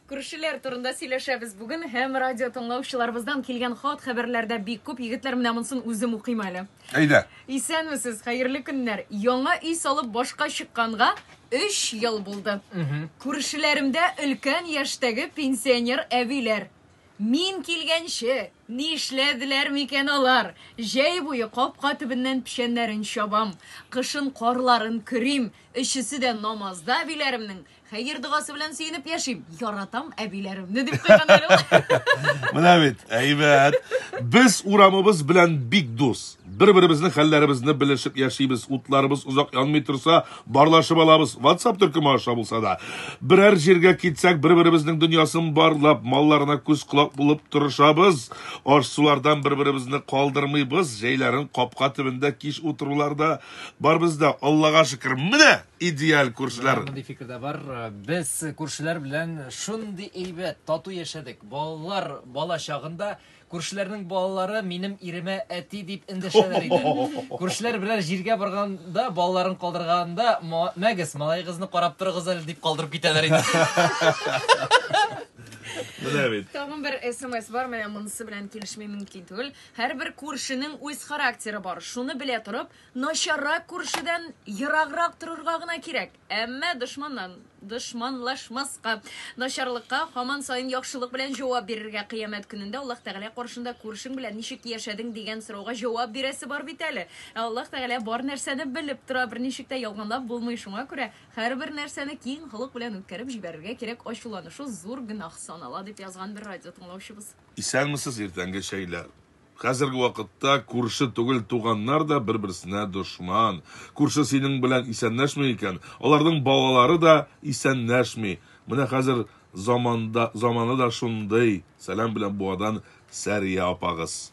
Күршеләр турында сөйләшәбез бүген һәм радио тыңлаучыларыбыздан килгән хат хәбәрләрдә бик күп егетләр менә монсын үзем укыйм әле. Әйдә. Исәнмесез, хәерле көннәр. Яңа өй салып башка чыкканга 3 ел булды. Күршеләремдә өлкән яшьтәге пенсионер әбиләр. Мин килгәнче, Ни эшләделәр микән алар? Җәй буе капка төбеннән печәннәрен чабам, кышын карларын көрим, өчесе дә намазда әбиләремнең хәер-догасы белән сөенеп яшим. Яратам әбиләремне, дип куйган әле ул. Менә бит, әйбәт. Без урамыбыз белән бик дус. Бер-беребезнең хәлләребезне белешеп яшибез, утларыбыз озак янмый торса, барлашып алабыз, ватсап төркеме аша булса да. Берәр җиргә китсәк, бер-беребезнең дөньясын барлап, малларына күз-колак булып торышабыз. Аш-сулардан бер-беребезне калдырмыйбыз, җәйләрен капка төбендә кич утырулар да бар бездә. Аллага шөкер, менә идеаль күршеләр! Мондый фикер дә бар. Без күршеләр белән шундый әйбәт, тату яшәдек. Балалар бала чагында Күршеләрнең балалары минем иремә әти дип эндәшәләр иде. Күршеләр берәр җиргә барганда, балаларын калдырганда, мәгез, малаегызны карап торыгыз әле дип калдырып китәләр иде. Менә бит. Тагын бер СМС бар, менә монысы белән килешми мөмкин түгел. Һәрбер күршенең үз характеры бар. Шуны белә торып, начаррак күршедән ераграк торырга гына кирәк. Әмма дошманнан дошманлашмаска, начарлыкка һаман саен яхшылык белән җавап бирергә, кыямәт көнендә Аллаһ Тәгалә каршында күршең белән ничек яшәдең дигән сорауга җавап бирәсе бар бит әле. Ә Аллаһ Тәгалә бар нәрсәне белеп тора, берничек тә ялганлап булмый, шуңа күрә һәрбер нәрсәне киң холык белән үткәреп җибәрергә кирәк, ачуланышу зур гөнаһ санала, дип язган бер радиотыңлаучыбыз. Исәнмесез, иртәнге чәйләр. Хәзерге вакытта күрше түгел туганнар да бер-берсенә дошман. Күрше синең белән исәнләшми икән, аларның балалары да исәнләшми. Менә хәзер заманда, заманы да шундый. Сәлам белән Буадан Сәрия апагыз.